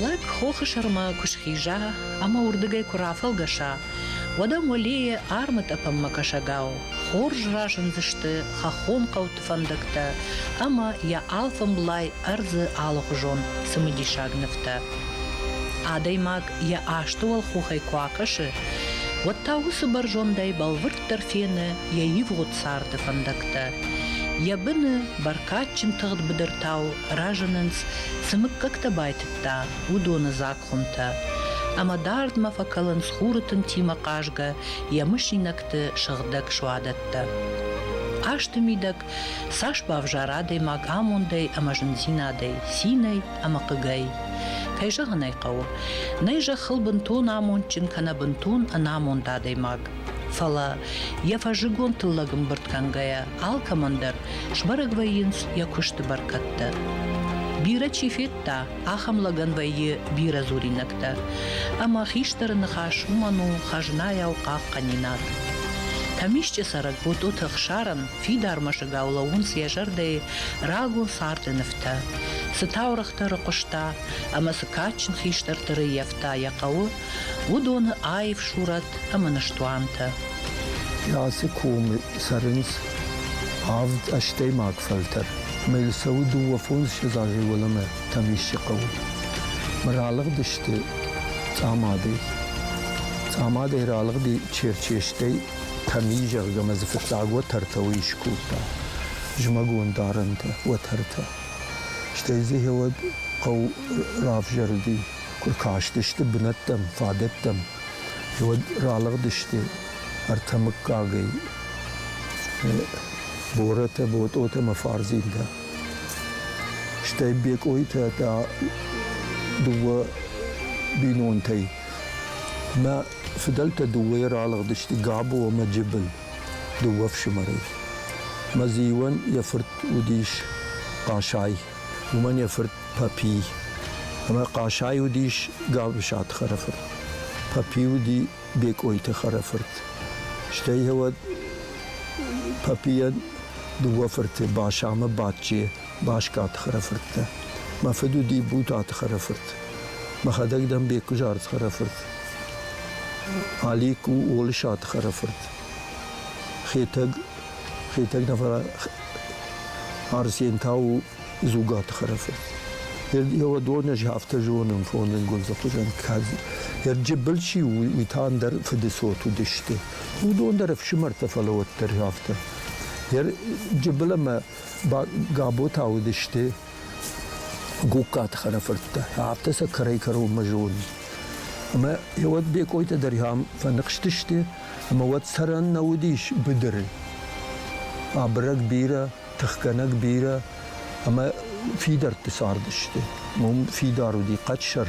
Лӕг хохы сӕрмӕ куы схиза ӕмӕ уырдыгӕй куы рафӕлгӕса, уӕд ӕм уӕлейы армытъӕпӕнмӕ кӕсӕгау хорз разындзысты хӕххон хъӕуты фӕндӕгтӕ ӕмӕ йӕ алфӕмблай ӕрдзы алыхуызон цымыдисаг нывтӕ. Адӕймаг йӕ асты уӕлхохӕй куы акӕсы, уӕд та уыцы бӕрзондӕй бӕлвырд уӕддӕр фены йӕ ивгъуыд царды фӕндӕгтӕ. Йӕ быны бӕркадджын тыгъд быдыртау разынынц, цы мыггӕгтӕ байтыдта, уыдоны дзаг хуымтӕ. Ӕмӕ дардмӕ фӕкӕлынц хуры тынтимӕ хъазгӕ йӕ мысинӕгты сыгъдӕг суадӕттӕ. Хъазты мидӕг цас бавзара адӕймаг амондӕй ӕмӕ зындзинадӕй, цинӕй ӕмӕ хъыгӕй. Кӕй зӕгъын ӕй хъӕуы, нӕй зӕххыл бынтон амондджын кӕнӕ бынтон ӕнамонд адӕймаг. Фӕлӕ, йӕ фӕззыгон тыллӕг ӕмбырд кӕнгӕйӕ, алкӕмӕн дӕр сбӕрӕг вӕййынц йӕ куысты бӕркӕдтӕ. Бирӕ чи федта, ахӕм лӕгӕн вӕййы бирӕ дзуринӕгтӕ, ӕмӕ хистӕры ныхас уымӕн у хӕзнайау хъахъхъӕнинаг. Тӕмисчъы цӕрӕг Ботъоты Ӕхсарӕн фидар мӕсыгау лӕууынц йӕ зӕрдӕйы рагон царды нывтӕ, цы таурӕгътӕ рыхъуыста ӕмӕ цы кадджын хистӕрты рыййӕфта йӕ хъӕуы, уыдоны аив сурӕт ӕмӕ ныстуантӕ. Ацы комы цӕрынц авд ӕстӕймаг фӕлтӕр. Мыл цӕуы дыууӕ фондзыссӕдз азы уӕлӕмӕ Тӕмисчы хъӕуы. Мы ралыгъдысты Цъамадӕй. Цъамадӕй ралыгъди Черчестӕй Тӕми, зӕгъгӕ, ӕмӕ дзы фыццаг уӕтӕртӕ уый скодта. Зымӕгон дарӕнтӕ, уӕтӕртӕ. Стӕй дзы гъеуӕд хъӕу равзӕрди Куы кастысты бынӕттӕм, фадӕттӕм, уӕд ралыгъдысты ӕртӕ мыггагӕй Боротӕ, Ботъотӕ ӕмӕ Фарзинтӕ. Стӕй Бекъойтӕ та дыууӕ бинонтӕй. Мӕ фыдӕлтӕ дыууӕйӕ ралыгъдысты Габо ӕмӕ Джыбыл, дыууӕ фсымӕрӕй. Мӕ зиуӕн йӕ фырт уыдис Хъасай. уымӕн йӕ фырт Папи. Ӕмӕ Къасай уыдис Галусаты хӕрӕфырт. Папи уыди Бекъойты хӕрӕфырт. Стӕй уӕд Папийӕн дыууӕ фырты Башамы Бачче Башкаты хӕрӕфырттӕ. Мӕ фыд уыди Бутаты хӕрӕфырт. Мӕхӕдӕг дӕн Беккуызард хӕрӕфырт. Алик у Олысаты хӕрӕфырт. Хетӕг Хетӕгнавӕ Арсентау Зугаты Хӕрӕфы. Еу доны афтӕ зонын фонын гундзахтужан кӕд Ерджыбыл чи у, уый та ӕндӕр фыдыцот уыдысты. Уыдон дӕр ӕфсымӕртӕ фӕлӕ уӕддӕр афтӕ. Ерджыбыл ӕмӕ Габота уыдысты Гугкаты хӕрӕфырттӕ. Афтӕ сӕ кӕрӕй-кӕронмӕ зонын. Ӕмӕ уӕд Бекъойтӕ дӕр фӕныхстысты, ӕмӕ уӕд цӕрӕн нӕ уыдис быдыры. Абырӕг бирӕ, тыхгӕнӕг бирӕ ӕмӕ фидӕртты цардысты. Уым фидар уыди хъӕдсӕр,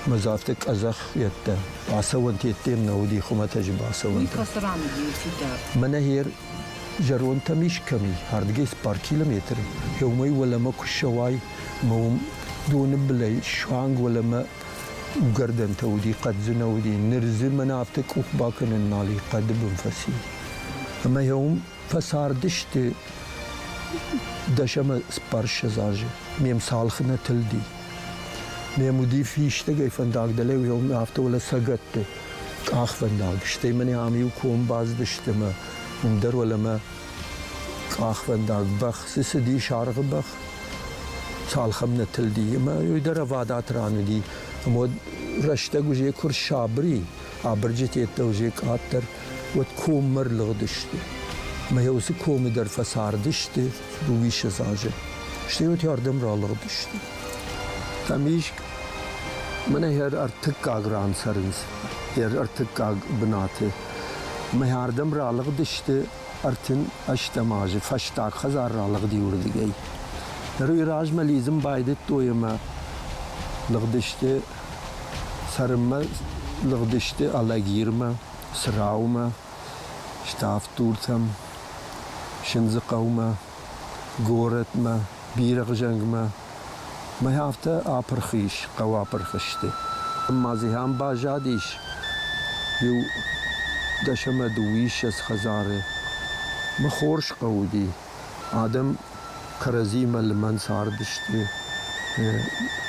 ӕмӕ дзы афтӕ къӕдзӕх йедтӕ бацӕуӕн теддем нӕ уыди хуымӕтӕджы бацӕуӕнтӕ. Мӕнӕ гьер зӕрондтӕм искӕми ардгӕс бар километр, еумӕй уӕлӕмӕ куы ссӕуай, ӕма уым доны былӕй суанг уӕлӕмӕ Угӕрдӕнтӕ уыди, хъӕддзынӕ уыди, ныр дзы мӕн афтӕ къух бакӕнынмӕ али хъӕды бын фӕци. Ӕмӕ йӕ уым фӕцардысты дӕсӕмӕ спарсӕдз азы. Ме мцалхы нӕ тылди. Ме уди фистӕгӕй фӕндаг дӕлӕ уым афтӕ уӕлӕсӕгӕтты къахвӕндаг. Стӕй мӕн ам иу ком базыдысты ӕмӕ уым дӕр уӕлӕмӕ Къахвӕндаг бӕх дзы цыди саргъы бӕх, цалхӕм нӕ тылди. Ӕмӕ уый дӕр ӕвадат ран уыди. Ӕмӕ уӕд рӕстӕг уызӕ куы рсабыри, абырджыты йеддӕ уызӕ къаддӕр, уӕд коммӕ ӕрлыгъдысты. Ӕмӕ йӕ уыцы комы дӕр фӕцардысты дыууиссӕдз азы. Стӕй уӕдӕрдӕм ралыгъдысты. Тамиж мӕнӕ йӕ ӕртыккаг ран цӕрынц, йӕ ӕртыккаг бынаты. Ӕмӕ ардӕм ралыгъдысты ӕртын ӕстӕм азы фӕстаг хӕдзар ралыгъди уырдыгӕй. Ныр уый размӕ лидзын байдыдтой ӕмӕ лыгъдысты цӕрынмӕ, лыгъдысты Алагирмӕ, Цраумӕ, Ставдтуртӕм, Сындзыхъӕумӕ, горӕтмӕ, Бирӕгъзӕнгмӕ, Мӕй афтӕ апырх ис, хъӕуы апырх сты. Ӕмӕ дзы ам баззадис иу дӕс ӕмӕ дыууиссӕдз хӕдзары. Мы хорз хъӕу уыди. Адӕм кӕрӕдзимӕ лымӕн цардысты.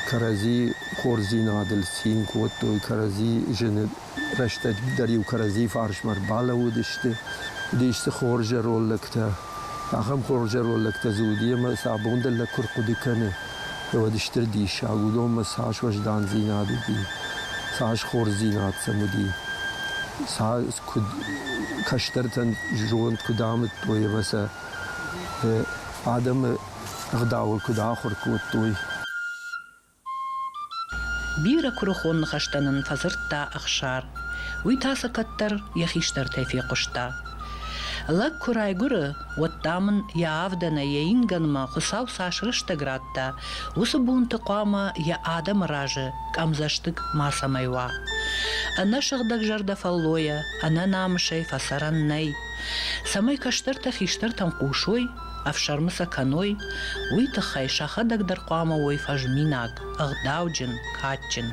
Кӕрӕдзи хорздзинадыл цин кодтой, кӕрӕдзи зыны Рӕстӕгдӕр-иу кӕрӕдзийы фарсмӕ ӕрбалӕууыдысты, уыдис дзы хорз зӕронд лӕгтӕ. Ахӕм хорз зӕронд лӕгтӕ дзы уыди, ӕмӕ сӕ абон дӕр лӕг куы рхъуыды кӕны, уӕд стыр диссаг, уыдонмӕ цас уӕздандзинад уыди, цас хорздзинад сӕм уыди, цас куыд кӕстӕртӕн зонд куыд амыдтой ӕмӕ сӕ адӕмы ӕгъдауыл куыд ахуыр кодтой. Бирӕ куырыхон ныхӕстӕ нын фӕдзырдта Ӕхсар. Уый та сӕ кӕддӕр йӕ хистӕртӕй фехъуыста. Лӕг куы райгуыры, уӕд, дам ын йӕ авдӕнӕй йӕ ингӕнмӕ Хуыцау цас рӕстӕг радта, уыцы бонты хъуамӕ йӕ адӕмы разы къӕмдзӕстыг мацӕмӕй уа. Ӕнӕ сыгъдӕгзӕрдӕ фӕллойӕ, ӕнӕ намысӕй фӕцӕрӕн нӕй. Цӕмӕй кӕстӕртӕ хистӕртӕн хъусой, ӕфсӕрмы сӕ кӕной, уый тыххӕй сӕхӕдӕг дӕр хъуамӕ уой фӕзминаг, ӕгъдауджын, кадджын.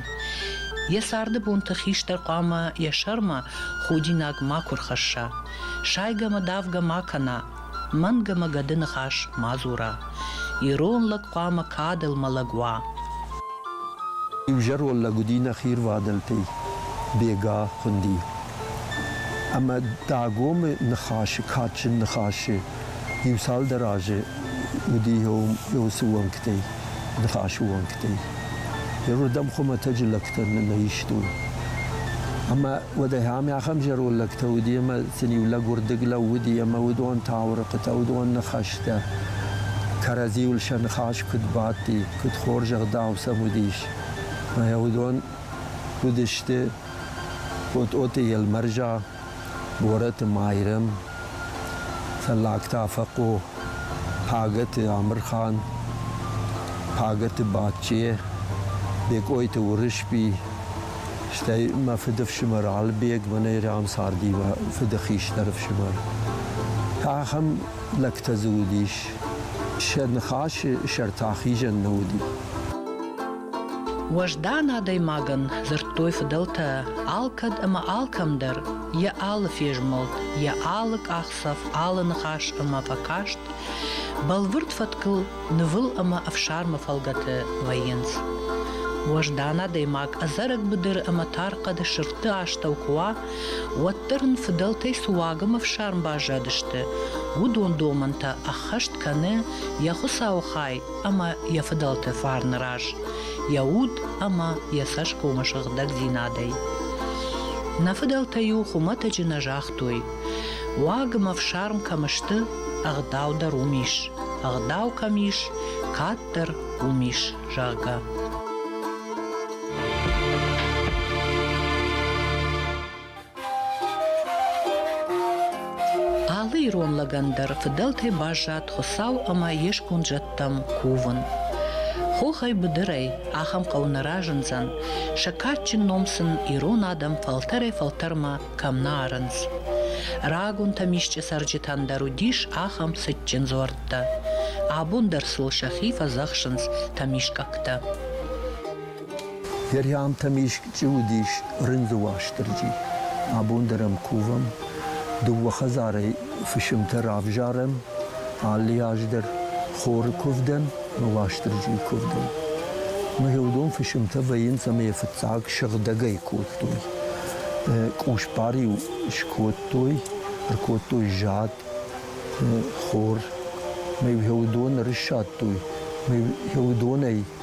Йӕ царды бонты хистӕр хъуамӕ йӕ сӕрмӕ худинаг макуы рхӕсса, сайгӕмӕ-давгӕ ма кӕна, мӕнгӕмӕ гӕды ныхас ма дзура. Ирон лӕг хъуамӕ кадыл мӕлӕг уа. Иузӕрон лӕг уыди нӕхи рвадӕлтӕй Бега хуынди. Ӕмӕ Дагомы ныхасы кадджын ныхасы Иу-цалдӕр азы уыди уыцы уӕнгтӕй, ныхасы уӕнгтӕй. Иуырдӕм хуымӕтӕджы лӕгтӕ нӕ истой. Ӕмӕ уӕдӕй ам ахӕм зӕронд лӕгтӕ уыди, ӕмӕ сын-иу лӕг уырдыг лӕууыди, ӕмӕ уыдон таурыхъытӕ, уыдон ныхӕстӕ кӕрӕдзиуыл сӕ ныхас куыд бадти, куыд хорз ӕгъдау сӕм уыдис. Ӕмӕ уыдон уыдысты Тъотъоты Елмӕрза, Борӕты Майрӕм, Фӕллагтӕ Афӕхъо, Пагӕты Амырхан, Пагӕты Бачче, Бекъойты Уырысби, стӕй мӕ фыдыфсымӕр Алыбег, мӕнӕй рӕм царди мӕ фыды хистӕр ӕфсымӕр. Ахӕм лӕгтӕ дзы уыдис. Сӕ ныхасы сӕр та хизӕн нӕ уыди. Уӕздан адӕймагӕн дзырдтой фыдӕлтӕ алкӕд ӕмӕ алкӕмдӕр йӕ алы фезмӕлд, йӕ алы къахдзӕф, алы ныхас ӕмӕ фӕкаст, бӕлвырд фӕткыл нывыл ӕмӕ ӕфсармы фӕлгӕты вӕййынц. Уӕздан адӕймаг ӕдзӕрӕг быдыры ӕмӕ тар хъӕды сырдты астӕу куы уа, уӕддӕр ын фыдӕлтӕй цы уаг ӕмӕ фсарм баззадысты, уыдон домӕнтӕ ӕххӕст кӕны йӕ Хуыцауы хай ӕмӕ йӕ фыдӕлты фарны раз йӕ уд ӕмӕ йӕ цӕсгомы сыгъдӕгдзинадӕй. Нӕ фыдӕлтӕ-иу хуымӕтӕджы нӕ загътой, уаг ӕмӕ фсарм кӕм сты, ӕгъдау дӕр уым ис, ӕгъдау кӕм ис, кӕддӕр уым ис, зӕгъгӕ. Алы ирон лӕгӕн дӕр фыдӕлтӕй баззад Хуыцау ӕмӕ йе сконд зӕдтӕм кувын. Хохӕй быдырӕй ахӕм хъӕу нӕ разындзӕн, сӕ кадджын ном сын ирон адӕм фӕлтӕрӕй-фӕлтӕрмӕ кӕм нӕ арынц. Рагонтӕм исчи цӕрджытӕн дӕр уыдис ахӕм цытджын дзуӕрттӕ. Абон дӕр сыл сӕхи фӕдзӕхсынц тӕмискъӕгтӕ. Йӕ риамтӕм исчи уыдис рындзы Уастырджи. Абон дӕр ӕм кувӕм, дыууӕ хӕдзарӕй фысымтӕ равзарӕм, алы аз дӕр хоры куывдӕн ӕмӕ Уастырджийы куывдӕн. Мгъюдон фысымтӕ вӕййынц ӕмӕ йӕ фыццаг сыгъдӕгӕй кодтой. Къусбар-иу скодтой, ӕркодтой зад, хор, мӕ-иу йӕ уыдон ӕрыссадтой, мӕ-иу йӕ уыдонӕй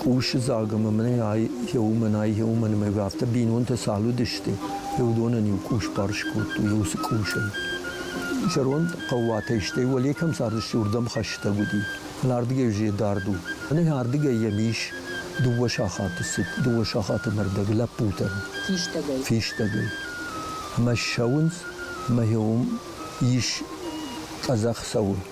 Къусы дзаг ӕмӕ мӕнӕй иу, мӕнӕй иу, мӕнмӕ иу, афтӕ бинонтӕ цал уыдысты, уый уыдонӕн иу къус барс кодтой, иу цы къусӕй. Зӕронд хъӕууатӕй, стӕй уӕле кӕм цардысты, уырдӕм хӕстӕг уыди. Ардыгӕй уызӕ дард у. Мӕнӕ ардыгӕй йӕм ис дыууӕ сахаты цыд, дыууӕ сахаты мӕрдӕг лӕппутӕ. Фистӕгӕй. Фистӕгӕй. Ӕмӕ ссӕуынц, ӕмӕ иуым ис къӕдзӕх цӕуы.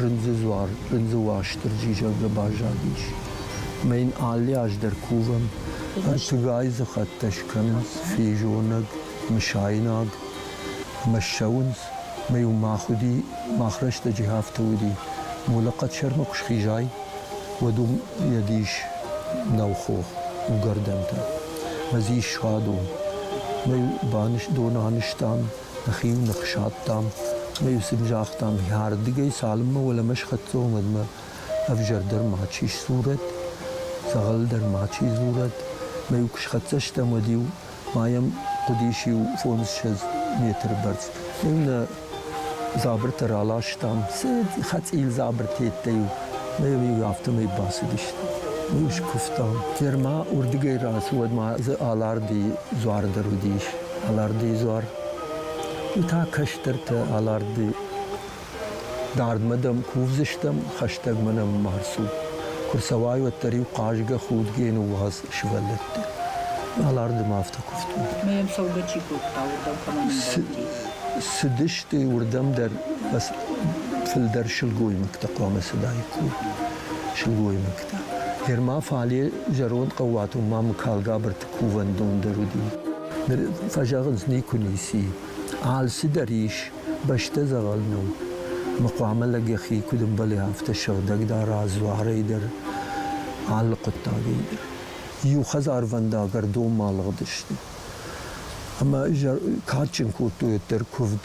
Рындзы дзуар рындзы Уастырджи зӕгъгӕ баззадис. Ӕмӕ йын алы аз дӕр кувӕм, ӕртыгай дзы хӕттӕ скӕнынц, физонӕг, мысайнаг, ӕмӕ ссӕуынц. Ӕмӕ-иу мах уыди, мах рӕстӕджы афтӕ уыди, Молӕхъхъӕд Сӕрмыхъус хизай, уӕд уым йӕ дис нӕу хох, угӕрдӕнтӕ. Ӕмӕ дзы ис садон. Ӕмӕ-иу доны анызтам, Нӕхи-иу ных садтам ӕмӕ-иу сын загътам, йӕрдыгӕй цалынмӕ уӕлӕмӕ схӕццӕ уымӕдмӕ ӕвзӕр дӕр мачи сдзурӕд, дзӕгъӕл дӕр мачи дзурӕд. Ӕмӕ-иу куы схӕццӕ стӕм, уӕд-иу ма йӕм хъуыдис иу фондзссӕдз метры бӕрц. Ӕмӕ-иу нӕ дзабыртӕ раластам, цы хӕцъил дзабыртӕ йедтӕ-иу, ӕмӕ-иу афтӕмӕй бацыдысты. Ӕмӕ-иу скуывтам. Герма уырдыгӕй рацыд, уӕд ма дзы Аларды дзуар дӕр уыдис. алӕрдыйы дзуар. Уый та кӕстӕртӕ алӕрдыйы. Дардмӕ дӕм кувдзыстӕм, хӕстӕгмӕ нӕм ма рцу. Куы рцӕуай, уӕддӕр-иу хъазгӕ худгӕ ныууадз сывӕллӕтты. Аларды ма афтӕ куывтой. Ӕмӕ йӕм цӕугӕ чи кодта, уырдӕм кӕмӕн ӕмбӕлди? Цыдысты уырдӕм дӕр фылдӕр сылгоймӕгтӕ хъуамӕ цыдаид кур. Сылгоймӕгтӕ. Гӕр ма фале зӕронд хъӕууатон ма мыкалгабырты кувӕндондӕр уыди. Ныр фӕзӕгъынц никуы ницы. Алцыдӕр ис, бӕстӕ дзӕгъӕл нӕу. Мы хъуамӕ лӕг йӕхи куыд ӕмбӕлы, афтӕ сыгъдӕг дара дзуарӕй дӕр, алы хъуыддагӕй дӕр. Иу хӕдзарвӕндаг ӕрдонмӕ алыгъдысты. Ӕмӕ кадджын кодтой уӕддӕр куывд.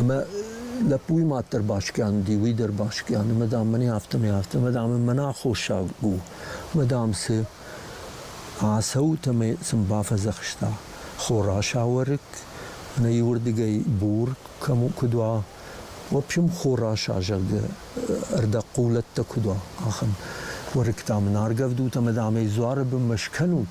Ӕмӕ лӕппуйы мад дӕр баскъиан уыди, уый дӕр баскъиан ӕмӕ, дам, мӕн афтӕмӕй афтӕ, ӕмӕ, дам, мӕнӕ аххосаг у. Ӕмӕ, дам, цы ацӕут ӕмӕ сын бафӕдзӕхста хор асауӕрӕг, ӕнӕ иуырдыгӕй бур кӕм куыд уа, в общем, хор аса, зӕгъгӕ, ӕрдӕгхъулӕттӕ куыд уа, ахӕм уӕрыкк, дам, ын аргӕвдут ӕмӕ, дам, ӕй дзуары бынмӕ скӕнут,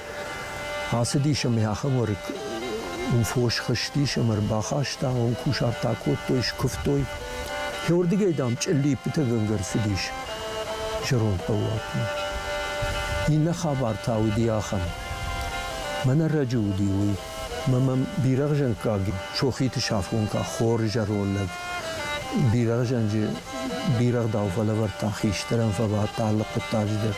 Ацыдис ӕмӕ ахӕмуары у фос хызтис ӕмӕ ӕрбахаста, уым кусарт акодтой, скуывтой. Георгийӕй, дам, чъиллиппытӕгӕнгӕ рцыдис зӕронд хъӕууатмӕ. Иннӕ хабар та уыди ахӕм. Мӕн ӕрӕджы уыди уый, мӕ мӕм бирӕгъзӕнкъаг сохиты сафгонка хор зӕронд лӕг бирӕгъзӕнджы бирӕгъдау фӕлӕвӕрдта, хистӕрӕн фӕбадт алы хъуыддаджы дӕр.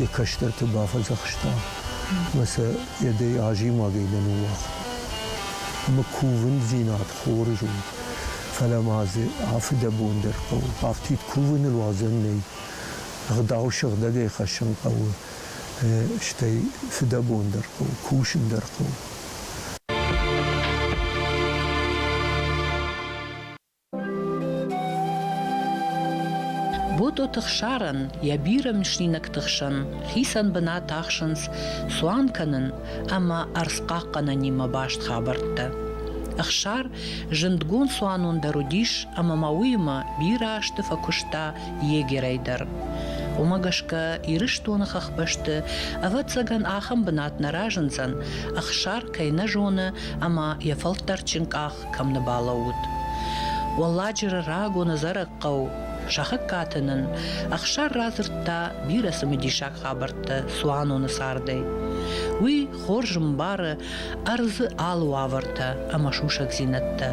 йӕ кӕстӕрты бафӕдзӕхста ӕмӕ сӕ йӕдӕй азимагӕй нӕ ныууагъта. Ӕмӕ кувындзинад хорз у, фӕлӕ ма дзы афыдӕбон дӕр хъӕуы. Афтид кувыныл уадзӕн нӕй. Ӕгъдау сыгъдӕгӕй хӕссын хъӕуы, стӕй фыдӕбон дӕр хъӕуы, кусын дӕр хъӕуы. Ботъоты хсарӕн йӕ бирӕ мысинӕгты хсӕн хицӕн бынат ахсынц цуан кӕнын ӕмӕ ӕрдзхъахъхъӕнӕнимӕ баст хабӕрттӕ. Ӕхсар зындгонд цуанон дӕр уыдис ӕмӕ ма уыимӕ бирӕ азты фӕкуыста егерӕй дӕр. Уымӕ гӕсгӕ Ирыстоны хӕхбӕсты, ӕвӕццӕгӕн, ахӕм бынат нӕ разындзӕн, Ӕхсар кӕй нӕ зоны ӕмӕ йӕ фӕлтӕрдджын къах кӕм нӕ балӕууыд. Уӕлладжыры рагон ӕдзӕрӕг хъӕу Сахыккаты нын Ӕхсар радзырдта бирӕ цымыдисаг хабӕрттӕ цуаноны цардӕй. Уый хорз ӕмбары ӕрдзы алы уавӕртӕ ӕмӕ сусӕгдзинӕдтӕ,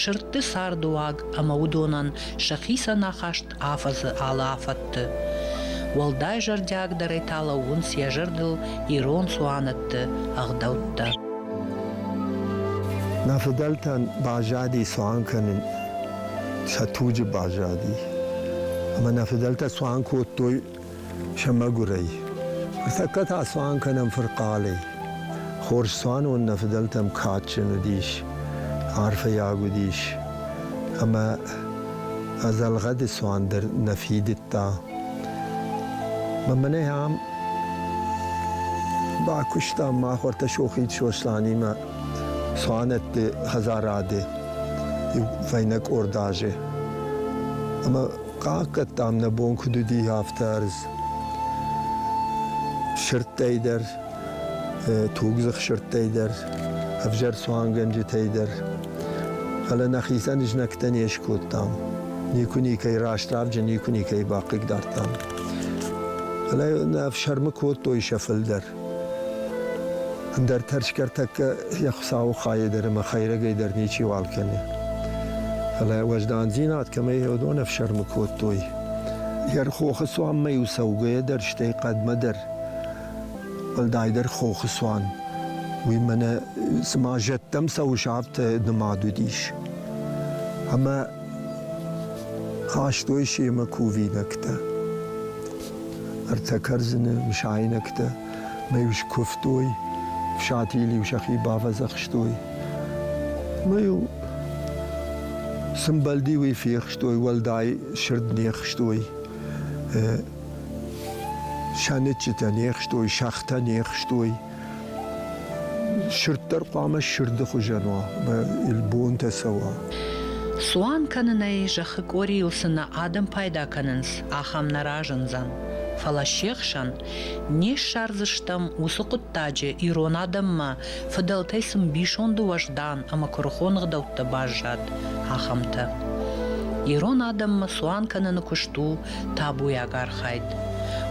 сырдты цардыуаг ӕмӕ уыдонӕн сӕхицӕн ахаст афӕдзы алы афӕдты. Уӕлдай зӕрдиагдӕрӕй та лӕууынц йӕ зӕрдыл ирон цуанӕтты ӕгъдӕуттӕ. Нӕ фыдӕлтӕн баззади цуан кӕнын сӕ туджы баззади. Ӕмӕ нӕ фыдӕлтӕ цуан кодтой сӕ мӕгуырӕй. Ныртӕккӕ та цуан кӕнӕм фырхъалӕй. Хорз цуанон нӕ фыдӕлтӕм кадджын уыдис, арфӕйаг уыдис. Ӕмӕ ӕдзӕлгъӕды цуан дӕр нӕ фидыдта. Мӕнӕ ам бакуыстам махуыртӕ Сохид Сосланимӕ цуанӕтты хӕдзарады иу фӕйнӕ къорд азы. Ӕмӕ Хъахъхъӕдтам, нӕ бон куыд уыди, афтӕ ӕрдз. Сырдтӕй дӕр, тугдзых сырдтӕй дӕр, ӕвзӕр цуангӕнджытӕй дӕр. Фӕлӕ нӕхицӕн знӕгтӕ не скодтам. Никуы никӕй раст равджын, никуы никӕй бахъыгдардтам. Фӕлӕ нӕ ӕфсӕрмы кодтой сӕ фылдӕр. Ӕндӕр тӕрсгӕ тӕккӕ йӕ Хуыцауы хайӕ дӕр ӕмӕ хӕйрӕгӕй дӕр ничиуал кӕны. Фӕлӕ уӕздандзинад кӕмӕй уыдон ӕфсӕрмы кодтой, йӕ хохы цуанмӕ-иу цӕугӕйӕ дӕр, стӕй хъӕдмӕ дӕр, уӕлдайдӕр хохы цуан, уый мӕнӕ цыма зӕдтӕм цӕуы сӕфты нымад уыдис. Ӕмӕ Хастой семӕ кувинӕгтӕ, ӕртӕ кӕрдзыны мысайнӕгтӕ мӕ-иу скуывтой, фсатийыл-иу сӕхи бавӕдзӕхстой. Мӕ-иу сымбӕлди уый фехстой, уӕлдай сырд не хстой, сӕныччытӕ не хстой, сӕгътӕ не хстой. Сырд дӕр хъуамӕ сырды хуызӕн уа, бонтӕ цӕуа. Цуан кӕнынӕй зӕххы къорийыл цы нӕ адӕм пайда кӕнынц, ахӕм нӕ разындзӕн. Фӕлӕ се хсӕн не ссардзыстӕм уыцы хъуыддаджы ирон адӕммӕ, фыдӕлтӕй цы мбисонды уӕздан ӕмӕ куырыхон ӕгъдӕуттӕ баззад, ахӕмтӕ. Ирон адӕммӕ цуан кӕныны куыст у табуйаг архайд.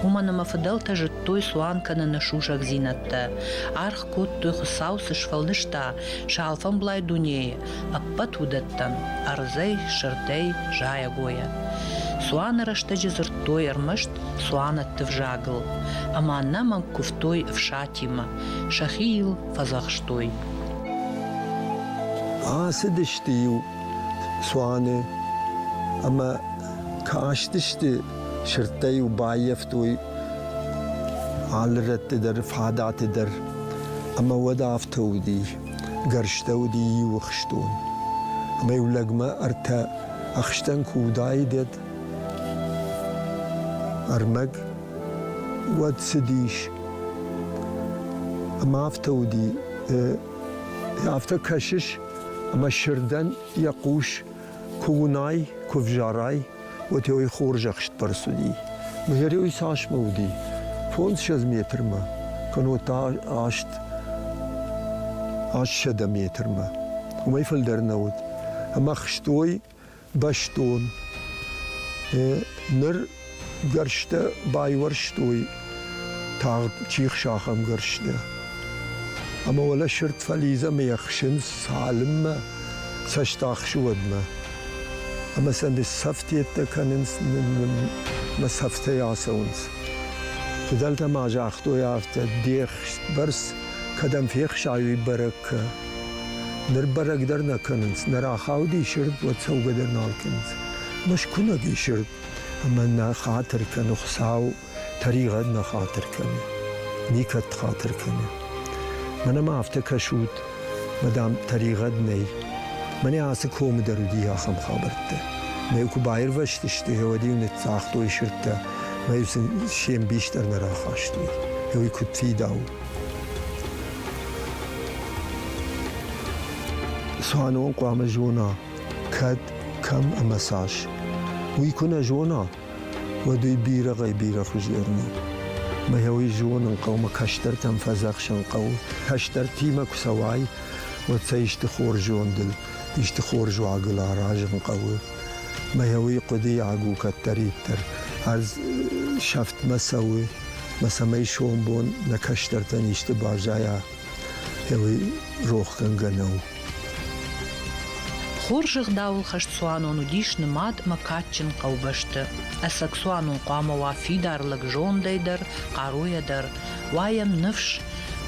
Уымӕн ӕмӕ фыдӕлтӕ зыдтой цуан кӕныны сусӕгдзинӕдтӕ, аргъ кодтой Хуыцау цы сфӕлдыста сӕ алфӕмблай дунейы, ӕппӕт уыдӕттӕн, ӕрдзӕй, сырдӕй, зайӕгойӕ. Цуаны рӕстӕджы дзырдтой ӕрмӕст цуанӕтты взагыл, ӕмӕ нӕ мӕнг куывтой ӕфсатимӕ, сӕхи йыл фӕдзӕхстой. Ацыдысты-иу цуаны ӕмӕ кастысты сырдтӕ-иу баййӕфтой алы рӕтты дӕр фадаты дӕр ӕмӕ уӕд афтӕ уыди гӕрзтӕ уыди иу ӕхстон ӕмӕ-иу лӕгмӕ ӕртӕ ӕхстӕн куы уыдаид ӕрмӕг уӕд цыдис ӕмӕ афтӕ уыди афтӕ кӕсыс Ӕмӕ Сырдӕн йӕ хъус куы уынай, куы взарай, уӕдӕй хорзӕхстбӕрц уыди. Мыгӕрӕй цасмӕ уыди? Фондзсӕдз метрмӕ, кӕнӕ та аст аст сӕдӕ метрмӕ. Уымӕй фылдӕр нӕ уыд. Ӕмӕ хстой бӕстон. Ныр гӕрзтӕ байуӕрстой тагъд чихсахӕмгӕрзтӕ. Ӕмӕ уӕлӕ сырд фализӕмӕ ӕхсынц цалынмӕ цӕстахсы уӕдмӕ. Ӕмӕ сӕнды сӕфтеттӕ кӕнынц, мӕ сӕфтӕй ацӕуынц. Фыдӕлтӕ ма загътой афтӕ, де хст бӕрц кӕдӕм фехсай, уый бӕрӕг кӕ. Ныр бӕрӕг дӕр нӕ кӕнынц, нӕ рахауди сырд, уӕд цӕугӕ дӕр нал кӕнынц. Мӕ скуынӕг и сырд, ӕмӕ нӕ хатыр кӕны Хуыцау, тӕригъӕд нӕ хатыр кӕны, никӕд хатыр кӕны. Мӕнӕ ма афтӕ кӕсут, мадам, тӕригъӕд нӕй. Мӕнӕ ацы комы дӕр уыди ахӕм хабӕрттӕ. Мӕ куы баирвӕзтысты, гъеуӕд-иу ныццагътой сырдтӕ, мӕ-иу сын се мбис дӕр нӕ рахастой. Гъеуый куыд фидауы. Цуанон хъуамӕ зона, кӕд, кӕм ӕмӕ цас. Уый куы нӕ зона, уӕд уый бирӕгӕй-бирӕ хуызерн у. Мӕ уый зонын хъӕумӕ кӕстӕртӕм фӕдзӕхсын хъӕуы. Кӕстӕртимӕ куы цӕуай, уӕд сӕ исты хорз зондыл, исты хорз уагыл аразын хъӕуы. Мӕ уый хъуыдыйаг у кӕддӕриддӕр. Ӕз сӕфтмӕ цӕуы, мӕ цӕмӕй сомбон нӕ кӕстӕртӕн исты баззайа, уый рохгӕнгӕ нӕу. Хорз ӕгъдауыл хӕст цуанон уыдис нымад мӕ кадджын хъӕубӕсты. Ӕцӕг цуанон хъуамӕ уа фидар лӕг зондӕй дӕр, хъаруйӕ дӕр, уа йӕм ныфс,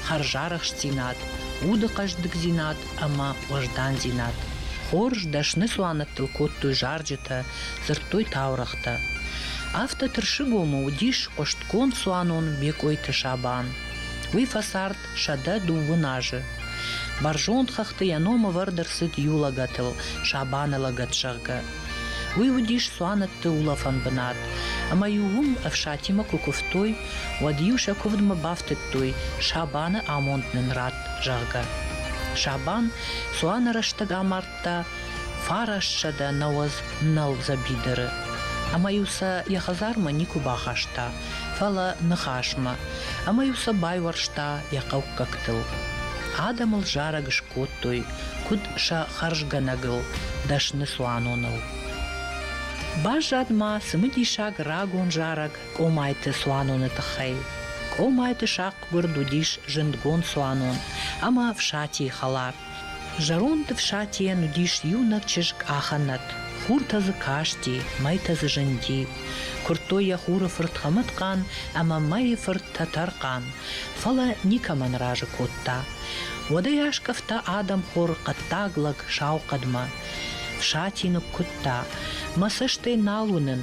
хӕрзарӕхстдзинад, уды хъӕздыгдзинад ӕмӕ уӕздандзинад. Хорз дӕсны цуанӕттыл кодтой зарджытӕ, дзырдтой таурӕгътӕ. Афтӕ Тырсыгомы уыдис хъуыстгонд цуанон Бекъойты Сабан. Уый фӕцард сӕдӕ дыууын азы. Бӕрзонд хӕхты йӕ ном ӕвӕрд ӕрцыд иу лӕгӕтыл, Сабаны лӕгӕт, зӕгъгӕ. Уый уыдис цуанӕтты улӕфӕн бынат, ӕмӕ-иу уым ӕфсатимӕ куы куывтой, уӕд-иу сӕ куывдмӕ бафтыдтой, Сабаны амонд нын ратт. зӕгъгӕ. Сабан цуаны рӕстӕг амардта фарассӕдӕ нӕуӕдз нӕлдзӕ бидыры. Ӕмӕ-иу сӕ йӕ хӕдзармӕ никуы бахаста, фӕлӕ ныхасмӕ. Ӕмӕ-иу сӕ байуӕрста йӕ хъӕуккӕгтыл. Адӕмыл зарӕг скодтой, куыд сӕ хӕрзгӕнӕгыл, дӕсны цуаноныл. Баззад ма цымыдисаг рагон зарӕг Къомайты цуаноны тыххӕй. Къомайты сахъ Гуырд уыдис зындгонд цуанон ӕмӕ Фсатийы хӕлар. Зӕронд Фсатийӕн уыдис иунӕг чызг Ахӕнӕт. Хуртӕ дзы касти, мӕйтӕ дзы зынди. Куырдтой йӕ хуры фырт Хӕмӕтхъан ӕмӕ мӕйы фырт Тӕтӕрхъан, фӕлӕ никӕмӕн разы кодта. Уӕдӕй аскъӕфта адӕмхор хъӕддаг лӕг сау хъӕдмӕ. Фсати ныккуыдта, мӕ цӕстӕй нал уынын,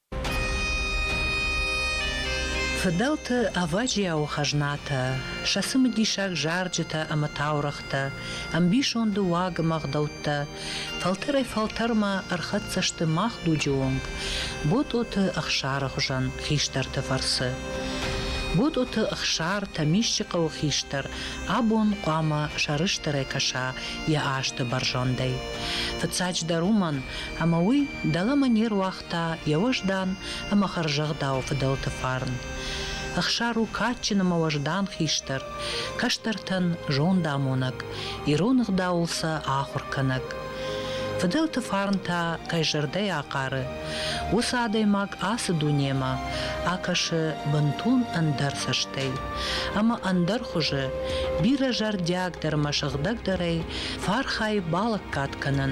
Фыдӕлты ӕвӕджиауы хӕзнатӕ, сӕ цымыдисаг зарджытӕ ӕмӕ таурӕгътӕ, ӕмбисонды уагымӕ гъдӕуттӕ фӕлтӕрӕй-фӕлтӕрмӕ ӕрхӕццӕ сты мах дуджы онг Ботъоты Ӕхсары хуызӕн хистӕрты фӕрцы. Ботъоты Ӕхсар Тӕмисчы хъӕуы хистӕр абон хъуамӕ сӕрыстырӕй кӕса йӕ азты бӕрзӕндӕй. Фыццаджыдӕр уымӕн, ӕмӕ уый дӕлӕмӕ не руагъта та йӕ уӕздан ӕмӕ хӕрзӕгъдауы фыдӕлты фарн. Ӕхсар у кадджын ӕмӕ уӕздан хистӕр, кӕстӕртӕн зондамонӕг, ирон ӕгъдауыл сӕ ахуыр кӕнӕг. Фыдӕлты фарн та кӕй зӕрдӕйы ахъары, уыцы адӕймаг ацы дунемӕ акӕсы бынтон ӕндӕр цӕстӕй ӕмӕ ӕндӕр хуызы, бирӕ зӕрдиагдӕр ӕмӕ сыгъдӕгдӕрӕй фӕархайы балӕггад кӕнын